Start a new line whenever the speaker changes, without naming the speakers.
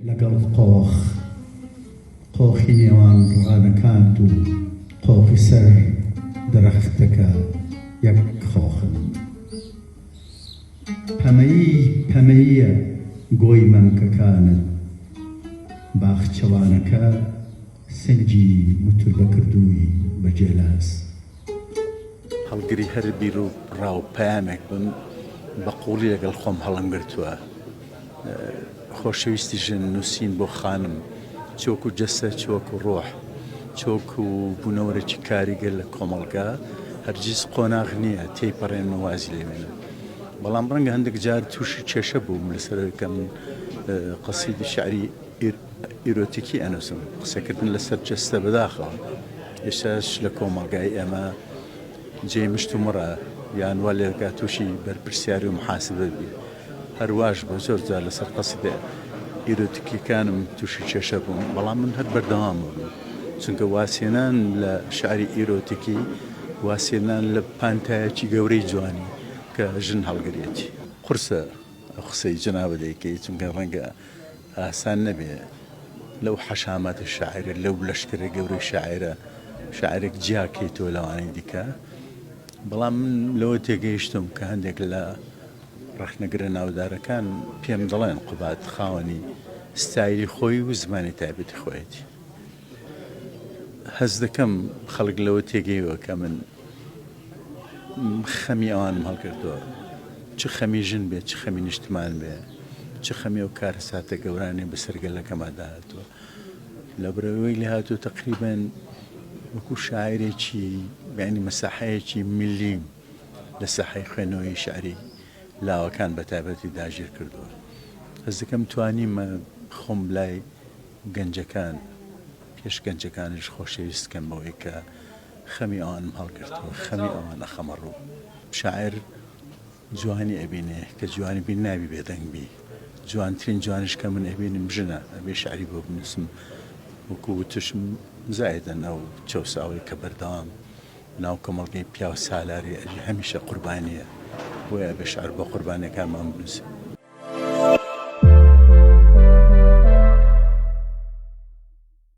لەگەڵ قۆخ قۆخی نێوان ڕانەکانت و قۆخی سەر درەختەکە یەک قۆخن. پەمەیی پەمەییە گۆی مەمکەکانت. باخچەوانەکە سنگی موتوربە کردووی بە جێلاس.
هەڵگری هەر بیروڕا و پەیامێک بم، بە قووڵی لەگەڵ خۆم هەڵمگرتووە. خۆشەویستی ژن، نووسین بۆ خانم، چ وەکوو جەستە چ وەکوو ڕۆح، چ وەکوو بوونەوەرێکی کاریگەر لە کۆمەڵگا، هەرگیز قۆناغ نییە تێیپەڕێنن و وازی لێ بێنن. بەڵام ڕەنگە هەندێک جار تووشی کێشە بووم لەسەرەوەی کە من قەسیدی شیعری ئیرۆتیکی ئەنووسم، قسەکردن لەسەر جەستە بەداخەوە ئێستاش لە کۆمەڵگای ئێمە جێی مشتومڕە، یان وا لێ دەکا تووشی بەرپرسیاری و محاسبە بی. هەر واش بوو زۆر جار لەسەر قەسیدە ئیرۆتیکییەکانم تووشی کێشە بووم، بەڵام من هەر بەردەوام بووم، چونکە وازهێنان لە شعری ئیرۆتیکی وازهێنان لە پانتایەکی گەورەی جوانی کە ژن هەڵگرێتی. قورسە ئەو قسەی جەنابت دەیکەی، چونکە ڕەنگە ئاسان نەبێ لەو حەشاماتە شاعیرە، لەو لەشکرە گەورەی شاعیرە شاعیرێک جیا کەیتەوە لەوانی دیکە، بەڵام من لەوە تێگەیشتووم کە هەندێک لە، ڕەخنەگرە ناودارەکان پێم دەڵێن قوباد خاوەنی ستایلی خۆی و زمانی تایبەتی خۆیەتی. هەست دەکەم خەڵک لەوە تێگەیوە کە من خەمی ئەوانم هەڵگرتووە. چ خەمی ژن بێ، چ خەمی نیشتمان بێ، چ خەمی ئەو کارەساتە گەورانەی بەسەر گەلەکەماندا هاتووە. لەبرەوەی لێ هاتووە تەقریبەن وەکوو شاعیرێکی یانی مەساحەیەکی ملیم. لە ساحەی خوێندنەوەی شیعری لاوەکان بە تایبەتی داگیر کردووە. هەست دەکەم توانیمە خۆم لای گەنجەکان، پێش گەنجەکانیش خۆشەویست بکەم بەوەی کە خەمی ئەوانم هەڵگرتووە، خەمی ئەوان ئەخەمە ڕوو. شاعیر جوانی ئەبینێ، کە جوانی بین نابی بێدەنگ بی. جوانترین جوانیش کە من ئەبینم ژنە، ئەبێ شیعری بۆ بنووسم. وەکوو وتوشم زایدەن ئەو چەوساوەی کە بەردەوام. ناو کۆمەڵگەی پیاو سالاری ئەژی هەمیشە قوربانیە بۆیە ئەبێ شعر بۆ قوربانیەکانمان بنوسین.